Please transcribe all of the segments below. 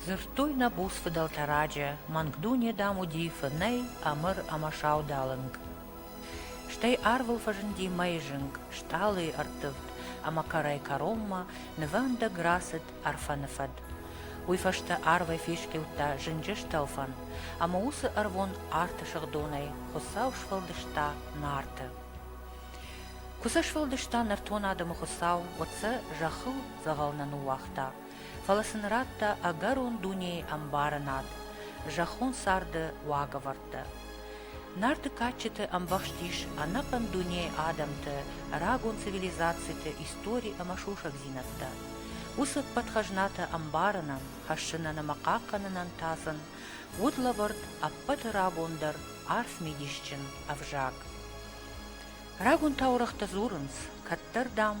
Дзырдтой нӕ буц фыдӕлтӕ раджы, мӕнгдуне, дам, уыди фынӕй, ӕмыр ӕмӕ саудалынг. Стӕй арвыл фӕзынди мӕйы зынг, стъалыйы ӕрттывд ӕмӕ кӕрӕй-кӕронмӕ нывӕндӕг рацыд Ӕрфӕны фӕд. Уый фӕстӕ арвӕй фесхъиудта зынджы стӕлфӕн, ӕмӕ уыцы ӕрвон арты сыгъдонӕй Хуыцау сфӕлдыста Нарты. Куы сӕ сфӕлдыста нӕртон адӕмы Хуыцау, уӕд сӕ зӕххыл дзӕгъӕл нӕ ныууагъта, фӕлӕ сын радта ӕгӕрон дунейы ӕмбарынад, зӕххон царды уагӕвӕрдтӕ. Нарты кадджыты ӕмбӕхст ис ӕнӕхъӕн дунейы адӕмты, рагон цивилизациты истори ӕмӕ сусӕгдзинӕдтӕ. Уыцы ӕппӕтхӕзнатӕ ӕмбарынӕн, хӕссынӕн ӕмӕ хъахъхъӕнынӕн тасӕн уыд лӕвӕрд ӕппӕты рагон дӕр арф мидисджын ӕвзаг. Рагон таурӕгътӕ дзурынц, кӕддӕр, дам,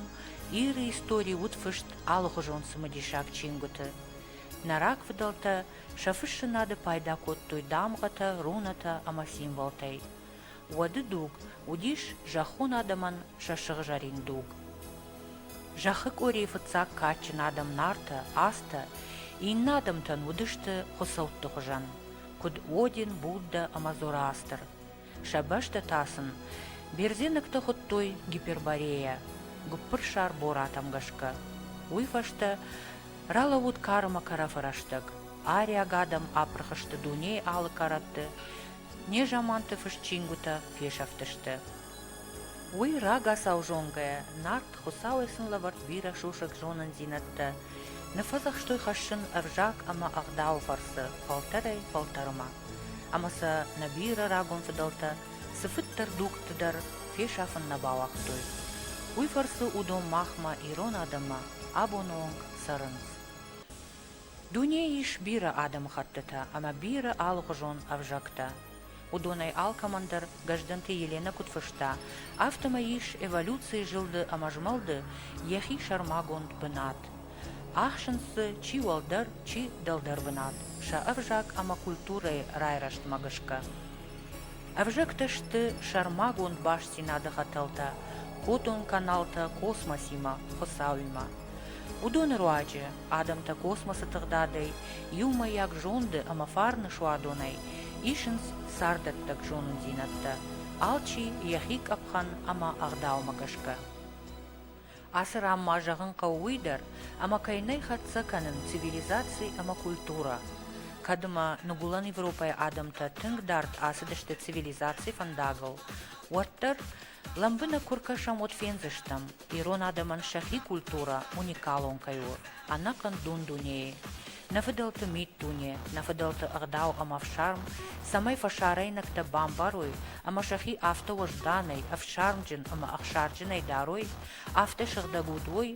Иры истори уыд фыст алыхуызон цымыдисаг чингуыты. Нӕ рагфыдӕлтӕ сӕ фыссынады пайда кодтой дамгъӕтӕ, рунатӕ ӕмӕ символтӕй. Уӕды дуг уыдис зӕххон адӕмӕн сӕ сыгъзӕрин дуг. Зӕххы къорийы фыццаг кадджын адӕм Нартӕ, Азтӕ иннӕ адӕмтӕн уыдысты хуыцӕутты хуызӕн, куыд Один, Буддӕ ӕмӕ Зороастр. Сӕ бӕстӕ та сын бердзенӕгтӕ хуыдтой гиперборейӕ, гуыппырсар боратӕм гӕсгӕ. Уый фӕстӕ ралӕууыд карымӕ кӕрӕфы рӕстӕг. Ариаг адӕм апырх сты дунейы алы кӕрӕтты, незаманты фыст чингуытӕ фесӕфтысты. Уый рагацау зонгӕйӕ, Нарт, Хуыцауӕй сын лӕвӕрд бирӕ сусӕг зонындзинӕдтӕ, ныффӕдзӕхстой хӕссын ӕвзаг ӕмӕ ӕгъдауы фӕрцы фӕлтӕрӕй-фӕлтӕрмӕ. ӕмӕ сӕ нӕ бирӕ рагон фыдӕлтӕ цыфыддӕр дугты дӕр фесафын нӕ бауагътой. Уый фӕрцы уыдон махмӕ, ирон адӕммӕ, абоны онг цӕрынц. Дунейы ис бирӕ адӕмыхӕттытӕ ӕмӕ бирӕ алыхуызон ӕвзӕгтӕ. Уыдонӕй алкӕмӕн дӕр Гӕздӕнты Еленӕ куыд фыста, афтӕмӕй ис эволюцийы зылды ӕмӕ змӕлды йӕхи сӕрмагонд бынат. Ахсынц дзы чи уӕлдӕр, чи дӕлдӕр бынат сӕ ӕвзаг ӕмӕ культурӕйы райрӕзтмӕ гӕсгӕ. Ӕвзӕгтӕ сты сӕрмагонд бастдзинады хӕтӕлтӕ хотон каналтӕ космосимӕ, Хуыцауимӕ. Уыдоны руаджы адӕмтӕ космосы тыгъдадӕй, иумӕйаг зонды ӕмӕ фарны суадонӕй исынц царддӕттӕг зонындзинӕдтӕ, алчи йӕхи къӕпхӕн ӕмӕ ӕгъдаумӕ гӕсгӕ. Ацы ран ма зӕгъын хъӕуы уый дӕр, ӕмӕ кӕй нӕй хӕццӕ кӕнын цивилизаци ӕмӕ культурӕ, кӕд ӕмӕ ныгуылӕн Европӕйы адӕмтӕ тынг дард ацыдысты цивилизацийы фӕндагыл, уӕддӕр лӕмбынӕг куы ркӕсӕм, уӕд фендзыстӕм, ирон адӕмӕн сӕхи культурӕ уникалон кӕй у. ӕнӕхъӕн дун-дунейы, нӕ фыдӕлты миддуне, нӕ фыдӕлты ӕгъдау ӕмӕ ӕфсарм, цӕмӕй фӕсарӕйнӕгтӕ бамбарой ӕмӕ сӕхи афтӕ уӕзданӕй, ӕфсармджын ӕмӕ ӕхсарджынӕй дарой, афтӕ сыгъдӕг уыдой,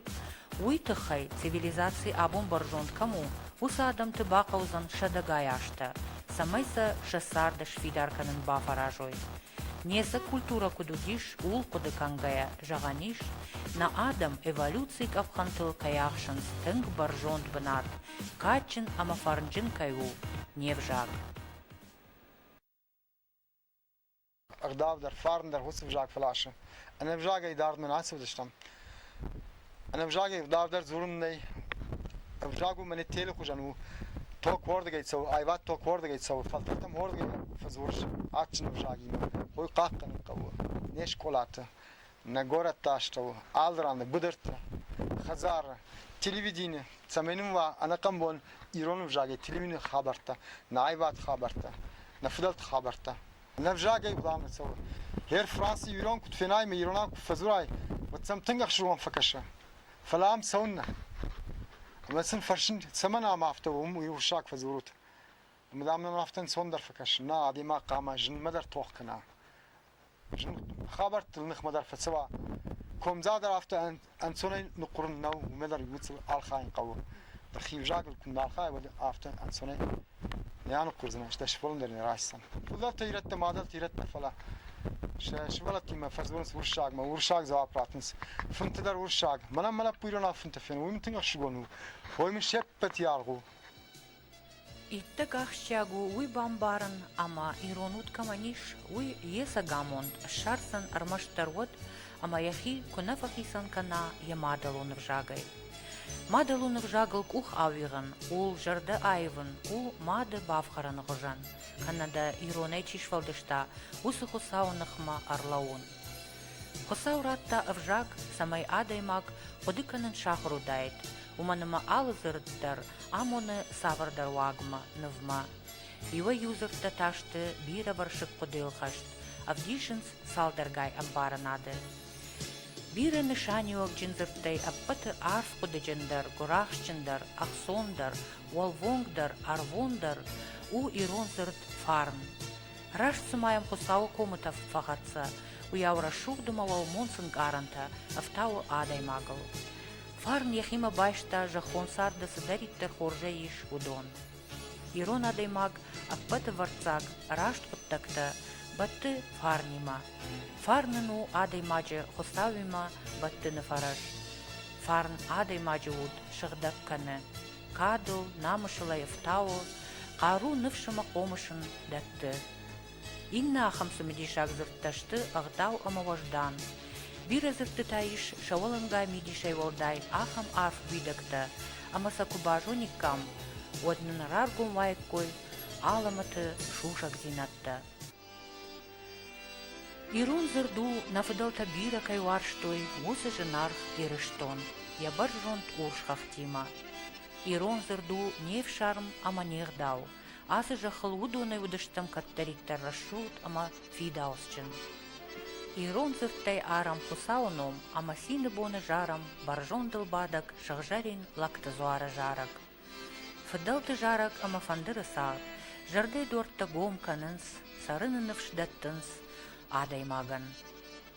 уый тыххӕй, цивилизаци абон бӕрзонд кӕм у, уыцы адӕмты бахъӕудзӕн сӕдӕгай азтӕ, цӕмӕй сӕ сӕ царды сфидар кӕнын бафӕразой. Не сӕ культурӕ куыд уыдис, ууыл хъуыды кӕнгӕйӕ, зӕгъӕн ис, нӕ адӕм эволюцийы къӕпхӕнтыл кӕй ахсынц тынг бӕрзонд бынат, кадджын ӕмӕ фӕрнджын кӕй у не взаг. Ӕгъдау дӕр, фарн дӕр уыцы взаг фӕласы. Ӕнӕвзагӕй дардмӕ нӕ ацыдыстӕм. Ӕнӕвзагӕй ӕвдавдӕр дзорун нӕй. Ӕвзаг у мӕнӕ телы хузӕн у. Ток уордыгӕй цӕуы, айвад ток уордыгӕй цӕуы, фӕлтӕртӕм уордыгӕй фӕдзурыс адджын ӕвзагимӕ. Уый хъахъхъӕнын хъӕуы не скъолаты, нӕ горӕтты астӕу, алы раны быдырты, хӕдзары, телевидени, цӕмӕй нын уа ӕнӕхъӕн бон ирон ӕвзагӕй телевидены хабӕрттӕ, нӕ айвад хабӕрттӕ, нӕ фыдӕлты хабӕрттӕ. Нӕ взагӕй бламӕ цӕуы. Гъер Франци ирон куыд фенай мӕ иронау куы фӕдзурай, уӕд сӕм тынг ӕхсызгон фӕкӕсы. Фӕлӕ ам цӕуыннӕ? Ӕмӕ сын фӕрсын, цӕмӕн ам афтӕ уым уый урсаг фӕдзурут? Ӕмӕ дам нӕм афтӕ ӕнцондӕр фӕкӕсы. Нӕ, адӕймаг хъама зынмӕ дӕр тох кӕна. Зын хабӕрттыл ныхмӕ дӕр фӕцӕуа. Комдзаг дӕр афтӕ Ӕнцонӕй ныккурын нӕу, уымӕ дӕр иууыл архайын хъӕуы. Хи взагыл куы нӕ архайай, уӕд афтӕ ӕнцонӕй нӕ аныхъуырдзынӕ, стӕй сывӕллон дӕр нӕ райсдзӕн. Улӕфтӕ ирӕттӕ, мадӕлты ирӕттӕ, фӕлӕ сӕ сывӕллӕттимӕ фӕдзурынц уырыссагмӕ, уырыссаг дзуапп ратынц. Фынты дӕр уырыссаг. Мӕнӕ мӕнӕ пуйронау фынтӕ фенын, уый мын тынг ӕхсызгон у. Уый мын се ппӕт аргъ у. Иттӕг ахсджиаг у уый бамбарын, ӕмӕ ирон уд кӕмӕн ис, уый йӕ сӕгамонд ссардзӕн ӕрмӕстдӕр уӕд, ӕмӕ йӕхи куы нӕ фӕхицӕн кӕна йӕ мадӕлон ӕвзагӕй. Мадӕлон ӕвзагыл къух ауигъын у зӕрдӕ аивын, у мады бафхӕрыны хуызӕн, кӕнӕ дӕ иронӕй чи сфӕлдыста, уыцы Хуыцауы ныхмӕ ӕрлӕууын. Хуыцау радта ӕвзаг, цӕмӕй адӕймаг хъуыды кӕнын сахуыр уыдаид, уымӕн ӕмӕ алы дзырд дӕр амоны цавӕрдӕр уагмӕ, нывмӕ. Иуӕй-иу дзырдтӕ та сты бирӕвӕрсыг хъуыдыйыл хӕст, ӕвдисынц цалдӕргай ӕмбарынады. Бирӕ нысаниуӕгджын дзырдтӕй ӕппӕты арф хъуыдыджындӕр, гуырахстджындӕр, ӕхцондӕр, уӕлвонгдӕр, ӕрвондӕр у ирон дзырд фарн. Раст цыма йӕм Хуыцауы комытӕф фӕхӕццӕ, уыйау рӕсугъд ӕмӕ уӕлмонц ӕнкъарӕнтӕ ӕфтауы адӕймагыл. Фарн йӕхимӕ байста, зӕххон царды цыдӕриддӕр хорзӕй ис, уыдон. Ирон адӕймаг, ӕппӕтывӕрццаг, раст хъуыддӕгтӕ бӕтты фарнимӕ. Фарн ын у адӕймаджы Хуыцауимӕ бӕттыны фӕрӕз. Фарн адӕймаджы уд сыгъдӕг кӕны, кадыл, намысыл ӕй ӕфтауы, хъару ныфс ӕмӕ хъомыс ын дӕтты. Иннӕ ахӕм цымыдисаг дзырдтӕ сты ӕгъдау ӕмӕ уӕздан. Бирӕ дзырдтытӕ ис, сӕ уӕлӕнгай мидисӕй уӕлдай, ахӕм арф уидӕгтӕ, ӕмӕ сӕ куы базониккам, уӕд нын раргом уаиккой алӕмӕты сусӕгдзинӕдтӕ. Ирон дзырд у, нӕ фыдӕлтӕ бирӕ кӕй уарзтой, уыцы зынаргъ Ирыстон, йӕ бӕрзонд урс хӕхтимӕ. Ирон дзырд у не фсарм ӕмӕ не гъдау, Ацы зӕххыл уыдонӕй уыдыстӕм кӕддӕриддӕр рӕсугъд ӕмӕ фидауцджын. Ирон дзырдтӕй арӕм Хуыцауы ном ӕмӕ цины боны зарӕм бӕрзондыл бадӕг сыгъзӕрин лӕгты дзуары зарӕг. Фыдӕлты зарӕг ӕмӕ фӕндыры цагъд зӕрдӕйдуӕрттӕ гом кӕнынц, цӕрыны ныфс дӕттынц адӕймагӕн.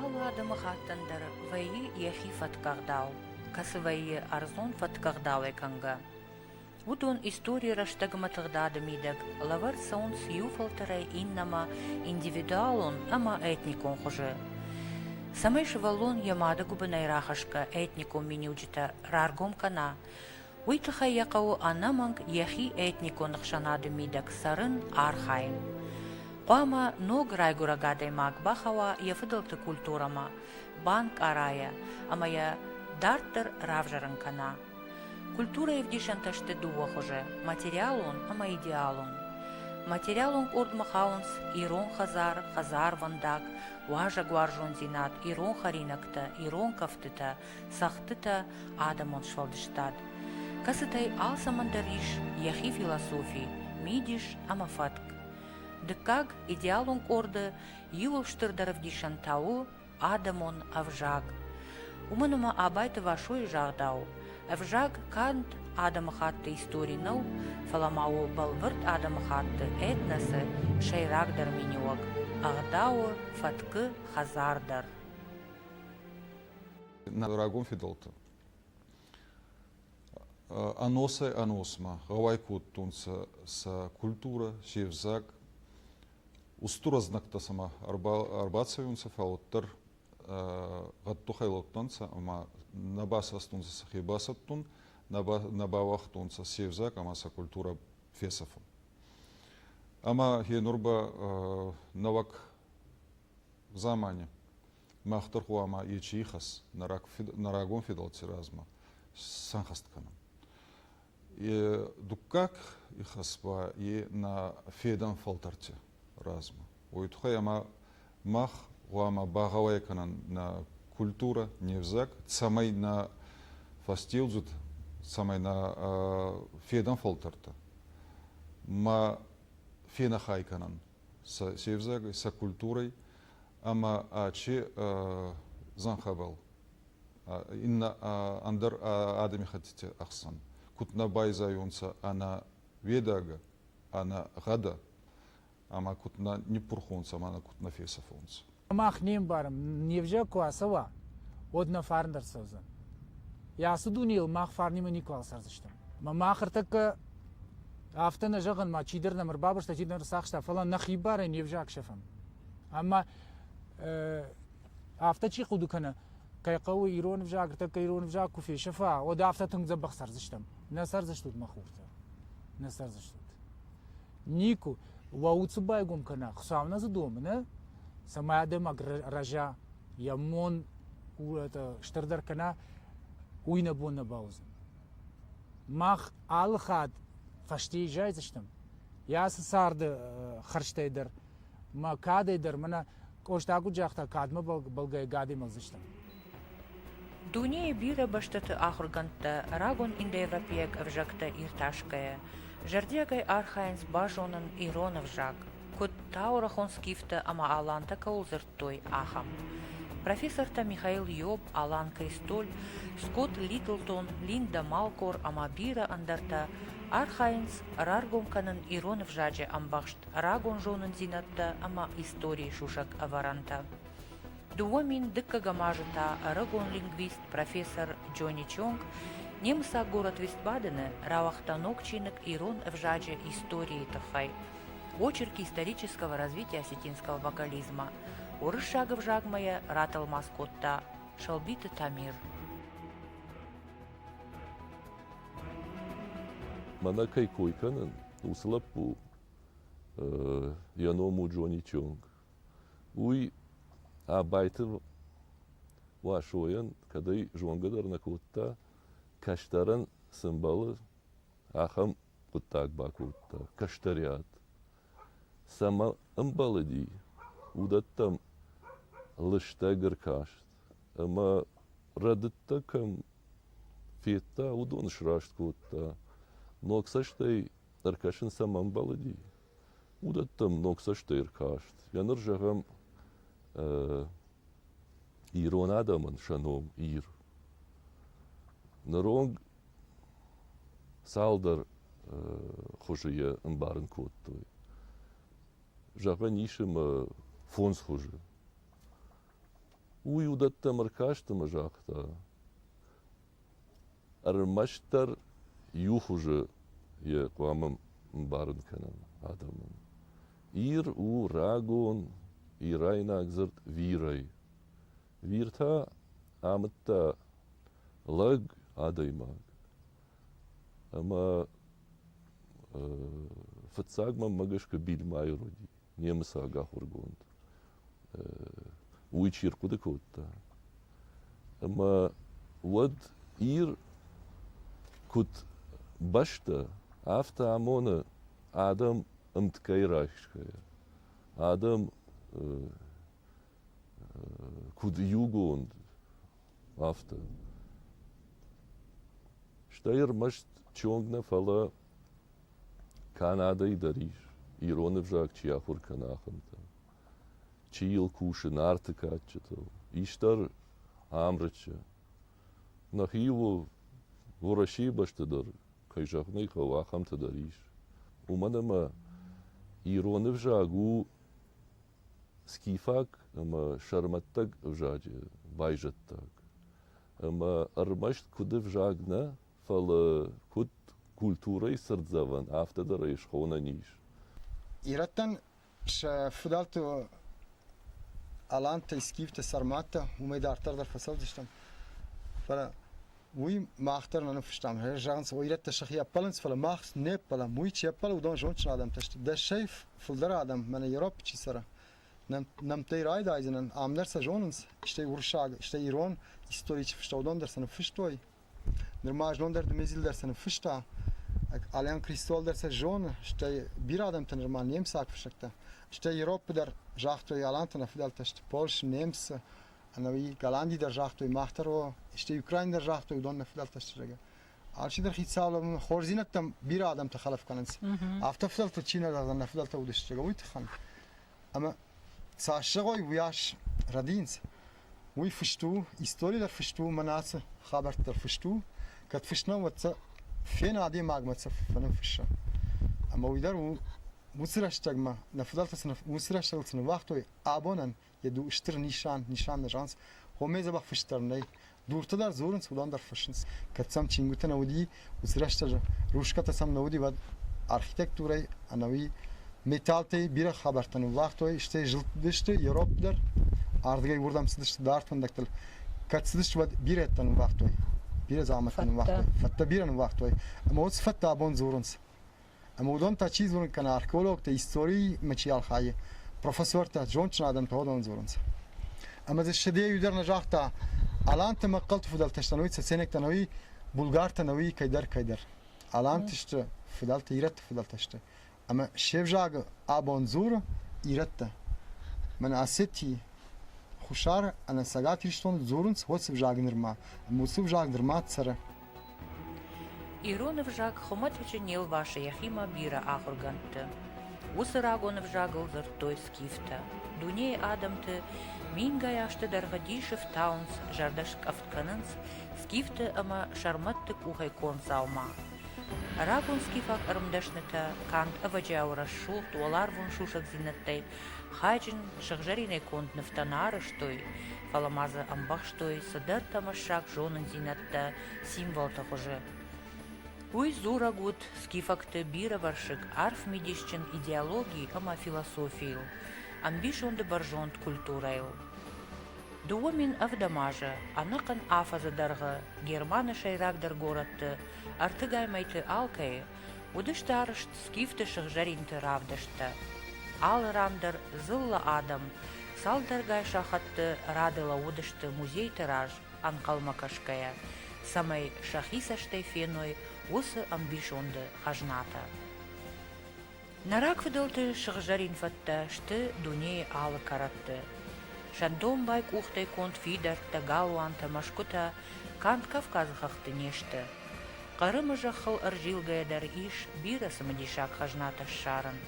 Алы адӕмыхаттӕн дӕр вӕййы йӕхи фӕткъӕгъдау, кӕцы вӕййы ӕрдзон фӕткъӕгъдауӕй кӕнгӕ. Уыдон историйы рӕстӕгмӕ тыгъдады мидӕг лӕвӕрд цӕуынц иу фӕлтӕрӕй иннӕмӕ индивидуалон ӕмӕ этникон хуызы. Цӕмӕй сывӕллон йӕ мады гуыбынӕй рахӕсгӕ этникон миниуджытӕ раргом кӕна, уый тыххӕй йӕ хъӕуы ӕнӕмӕнг йӕхи этникон ӕхсӕнады мидӕг цӕрын, архайын. Хъуамӕ ног райгуырӕг адӕймаг бахауа йӕ фыдӕлты культурӕмӕ, банкъарайа ӕмӕ йӕ дарддӕр равзӕрын кӕна. Культурӕйы ӕвдисӕнтӕ сты дыууӕ хуызы, материалон ӕмӕ идеалон. Материалон къордмӕ хауынц ирон хӕдзар, хӕдзарвӕндаг, уазӕгуарзондзинад, ирон хӕринӕгтӕ, ирон кӕфтытӕ, цӕгъдтытӕ адӕмон сфӕлдыстад, кӕцытӕй алцӕмӕн дӕр ис йӕхи философи, мидис ӕмӕ фӕтк. Дыккаг идеалон къорды иууыл стырдӕр ӕвдисӕн та у адӕмон ӕвзаг. Уымӕн ӕмӕ Абайты Васойы загъдау, ӕвзаг канд адӕмыхатты истори нӕу, фӕлӕ ма у бӕлвырд адӕмыхатты этносы сӕйрагдӕр миниуӕг, ӕгъдауы, фӕткы хӕдзар дӕр. на рагон федӕлтӕ. Ӕносӕй ӕносмӕ гъӕуай кодтонцӕ сӕ культурӕ, се взаг. Устур ӕзнӕгтӕ сӕмӕ ӕрбацӕуунцӕ, фал уӕддӕр гъӕддухӕй лӕудтӕнцӕ ӕма нӕ басастонцӕ сӕхе басӕттун, нӕ бауагътонцӕ се взаг ӕма сӕ культурӕ фесӕфун. Ӕма е нур ба нӕуӕг Замане мах дӕр хъуамӕ ичи ихӕс нӕ рагон федӕлтти размӕ сӕнхӕст кӕнӕн. Дуккаг ихӕс ба е нӕ федӕн фӕлтӕрти размӕ. Уой туххӕй ӕма мах гъуамӕ багъӕуай кӕнӕн нӕ культурӕ, не взаг, цӕмӕй нӕ фӕстеудзуд, цӕмӕй нӕ федӕн фӕлтӕртӕ ма фенӕхай кӕнӕн се взаг сӕ культурӕй ӕма ачи зӕнхӕбӕл иннӕ ӕндӕр адӕмихӕттити ӕхсӕн куд нӕ байзайонцӕ ӕнӕ ведагӕ, ӕнӕ гъӕдӕ, ӕма куд нӕ ниппурхонцӕ ӕма куд нӕ фесӕфонцӕ. Мах не мбарӕм, не взаг куы ацӕуа, уӕд нӕ фарн дӕр цӕудзӕн. Йӕ ацы дунейыл мах фарнимӕ никуал цӕрдзыстӕм. Мӕ мах ӕртӕккӕ афтӕ нӕ зӕгъын, ма чидӕр нӕм ӕрбабырста, чидӕр ӕрцахста, фӕлӕ нӕхи барӕй не взаг сӕфӕм. Ӕмӕ афтӕ чи хъуыды кӕны, кӕй хъӕуы ирон ӕвзаг, ӕртӕккӕ ирон ӕвзаг куы фесӕфа, уӕд афтӕ тынг дзӕбӕх цӕрдзыстӕм. Нӕ цӕрдзыстут, мӕ хуртӕ, нӕ цӕрдзыстут. Нику, уӕ уыцы байгом кӕна, хуыцауы дзы домы, нӕ? Цӕмӕй адӕймаг рӕза, йӕ мон стырдӕр кӕна, уый нӕ бон нӕ бауыдзӕн. Мах алы хатт фӕсте изайдзыстӕм, йӕ ацы царды хӕрзтӕй дӕр Мӕ кадӕй дӕр мӕнӕ Къоста куыд загъта, кадмӕ бӕлгӕйӕ гӕдӕй мӕлдзыстӕм. Дунейы бирӕ бӕстӕты ахуыргӕндтӕ, рагон индоевропейаг ӕвзӕгтӕ иртасгӕйӕ, зӕрдиагӕй архайынц базонын ирон ӕвзаг, куыд таурӕхон скифтӕ ӕмӕ алантӕ кӕуыл дзырдтой, ахӕм. Профессортӕ Михаил Иоб, Алан Кристоль, Скотт Литлтон, Линдӕ Малкор ӕмӕ бирӕ ӕндӕртӕ архайынц раргом кӕнын ирон ӕвзаджы ӕмбӕхст рагон зонундзийнӕдтӕ ӕма историй сусӕг ӕвӕрӕнтӕ. Дууӕ мин дыккӕгӕм азы та ӕрыгон лингвист, профессор Джони Чонг немыцаг город Вестбадены рауагъта ног чиныг ирон ӕвзаджы историйы тыххӕй очерк исторического развития осетинского вокализма. Уырыссаг ӕвзагмӕ йӕ ратӕлмац кодта Шалбиты Тамир. Мӕнӕ кӕй кой кӕнын, уыцы лӕппу Йӕ ном у Джони Чунг. Уый Абайты Уасойӕн кӕдӕй зонгӕ дӕр нӕ кодта, кӕстӕрӕн цы мбӕлы, ахӕм хъуыддаг бакодта – кӕстӕриат. Цӕмӕ ӕмбӕлыди, уыдӕттӕм лыстӕг ӕркаст ӕмӕ рӕдыдтӕ кӕм федта, уыдон сраст кодта. Ног цӕстӕй ӕркӕсын сӕм ӕмбӕлыди, уыдӕттӕм ног цӕстӕй ӕркаст. Йӕ ныр зӕгъӕм ирон адӕмӕн сӕ ном Ир. Ныронг цалдӕр хуызы йӕ ӕмбарын кодтой. Зӕгъӕн ис ӕмӕ фондз хуызы. Уый уыдӕттӕм ӕркаст ӕмӕ загъта, Ӕрмӕстдӕр иу хуызы йӕ хъуамӕ мбарын кӕнӕм адӕмӕн. Ир у рагон ирайнаг дзырд вирӕй. Вир та амыдта лӕг, адӕймаг. Ӕмӕ фыццаг мӕнмӕ гӕсгӕ Бильмайыр уыди. немыцаг ахуыргонд уый чи рхъуыды кодта ӕмӕ уӕд ир куыд бӕстӕ афтӕ амоны адӕм ӕмткӕй райсгӕйӕ адӕм куыд иугонд афтӕ стӕй ӕрмӕст чонг нӕ фӕлӕ Канадӕйы дӕр ис, ирон ӕвзаг чи ахуыр кӕны, ахӕмтӕ. Чи йыл кусы нарты кадджытыл, исдӕр Амрычы. Нӕхи у Уӕрӕсейы бӕсты дӕр, кӕй зӕгъын ӕй хъӕуы, ахӕмтӕ дӕр ис. Уымӕн ӕмӕ ирон ӕвзаг у скифаг ӕмӕ сӕрмӕттаг ӕвзаджы байзӕддаг. Ӕмӕ ӕрмӕст куыд ӕвзаг нӕ, Фӕлӕ куыд культурӕйы цырддзӕвӕн, афтӕ дӕр ӕй схонӕн ис. Ирӕттӕн сӕ фыдӕлты алантӕй скифты сӕрмӕттӕ уымӕй дарддӕр дӕр фӕцӕудзыстӕм. Фӕлӕ уый мах дӕр нӕ ныффыстам. Зӕгъынц, ирӕттӕ сӕхи ӕппӕлынц, фӕлӕ мах не ппӕлӕм. Уый чи ӕппӕлы, уыдон зондджын адӕмтӕ сты. Дӕсӕй фылдӕр адӕм мӕнӕ Европӕ чи цӕры, нӕмттӕй райдайдзынӕн, ам дӕр сӕ зонынц, стӕй уырыссаг, стӕй ирон истори чи фыста, уыдон дӕр сӕ ныффыстой. Нырма знон дӕр Дмитрий дӕр цы ныффыста, Алан Кристол дӕр сӕ зоны, стӕй бирӕ адӕмтӕ нырма немыцаг фыссӕгтӕ, стӕй Европӕ дӕр, загътой Аланты нӕ фыдӕлтӕ сты Польши, немцы, ӕнӕуи Голланди дӕр загътой, мах дӕр о, стӕй Украин дӕр загътой, уыдон нӕ фыдӕлтӕ сты, зӕгъгӕ. Алчидӕр хицауад хорздзинӕдтӕм бирӕ адӕмтӕ хӕлӕф кӕнынц. Афтӕ фыдӕлтыл чи нӕ зӕгъдзӕн, нӕ фыдӕлтӕ уыдысты, зӕгъгӕ, уый тыххӕн. ӕмӕ цасдӕрой уыйас рӕдийынц, уый фыст у, истори дӕр фыст у мӕнӕ ацы хабӕртты дӕр фыст у, кӕд фыст нӕу, уӕд сӕ фены адӕймагмӕ сӕ фӕныффысса. Ӕмӕ уый дӕр у, уыцы рӕстӕгмӕ, нӕ фыдӕлтӕ цы уыцы рӕстӕгыл цы ныууагътой, абонӕн йӕ стыр нисан, нисан нӕ зӕгъынц, хомӕй дзӕбӕх фыст дӕр нӕй, дуртӕ дӕр дзорынц, уыдон дӕр фыссынц. Кӕд сӕм чингуытӕ нӕ уыди, уыцы рӕстӕджы русскӕтӕ сӕм нӕ уыди, уӕд архитектурӕй ӕнӕуи металлтӕй бирӕ хабӕрттӕ ныуулагътой, стӕй зылдтысты Европ дӕр, ардыгӕй уырдӕм цыдысты дард фӕндӕгтыл. Кӕд цыдысты, уӕд бирӕтӕ ныууагътой, бирӕ дзаумӕттӕ ныууагътой, фӕдтӕ бирӕ ныууагътой, ӕмӕ уыд цы фӕдтӕ абон дзурынц, Ӕмӕ уыдон та чи дзурын кӕна, археологтӕ, историймӕ чи архайы, профессортӕ, зондджын адӕмтӕ уыдон дзурынц. Ӕмӕ дзы Шедейы дӕр нӕ загъта, аланты мӕхъхъӕлты фыдӕлтӕ сты ӕви цӕценӕгтӕ ӕви булгартӕ ӕви кӕйдӕр кӕйдӕр. Аланты сты фыдӕлтӕ, ирӕтты фыдӕлтӕ сты. Ӕмӕ се взагы абон дзуры ирӕттӕ. Мӕнӕ Осетийы, Хуссар ӕмӕ Цӕгат Ирыстоны дзурынц уыцы взаг нырма, ӕмӕ уыцы взаг нырма цӕры. Ирон ӕвзаг хуымӕтӕджы не лвасы йӕхимӕ бирӕ ахуыргӕндты. Уыцы рагон ӕвзагыл дзырдтой скифтӕ. Дунейы адӕмты мингай азты дӕргъы дисы фтауынц, зӕрдӕ скъӕфт кӕнынц скифты ӕмӕ сӕрмӕтты къухӕй конд дзаума. Рагон скифаг ӕрмдӕснытӕ канд ӕвӕджиауы рӕсугъд уӕларвон сусӕгдзинӕдтӕй хайджын сыгъзӕринӕй конд нывтӕ нӕ арӕзтой, фӕлӕ ма дзы ӕмбӕхстой цыдӕр тӕмӕссаг зонындзинӕдтӕ дзырдтӕ символты хуызы. Уый дзурӕг уыд скифӕгты бирӕвӕрсыг арф мидисджын идеологи ӕмӕ философийыл, ӕмбисонды бӕрзонд культурӕйыл. Дыууӕ мин ӕвдӕм азы ӕнӕхъӕн афӕдзы дӕргъы Германы сӕйрагдӕр горӕтты ӕртыгӕй алкӕйы уыдысты арызт скифты сыгъзӕринты равдысттӕ. Алы ран дӕр дзыллӕ адӕм цалдӕргай сахатты рады лӕууыдысты музейты раз ӕнхъӕлмӕ кӕсгӕйӕ, цӕмӕй сӕхи цӕстӕй феной уыцы ӕмбисонды хӕзнатӕ. Нӕ рагфыдӕлты сыгъзӕрин фӕдтӕ сты дунейы алы кӕрӕтты. Сӕндонбай къухтӕй конд фидӕрттӕ, галуантӕ, мӕсгуытӕ канд Кавказы хӕхты не сты. Хъырымы зӕххыл ӕрзилгӕйӕ дӕр ис бирӕ цымыдисаг хӕзнатӕ ссарын.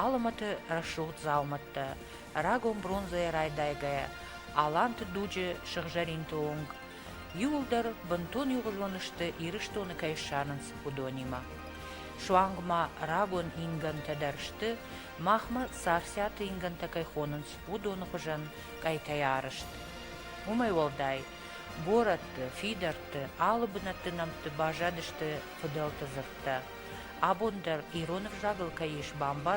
Алымӕты рӕсугъд дзаумӕттӕ, рагон бронзӕйӕ райдайгӕйӕ, аланты дуджы сыгъзӕринты онг, иуылдӕр бынтон иугъуызон сты Ирыстоны кӕй ссарынц, уыдонимӕ. Суанг ма рагон ингӕнтӕ дӕр сты, махмӕ царциаты ингӕнтӕ кӕй хонынц, уыдоны хуызӕн къӕйтӕй арызт. Уымӕй уӕлдай, борӕтты, фидӕртты, алы бынӕтты нӕмтты баззадысты фыдӕлты дзырдтӕ. Абон дӕр ирон ӕвзагыл кӕй ис бамбар,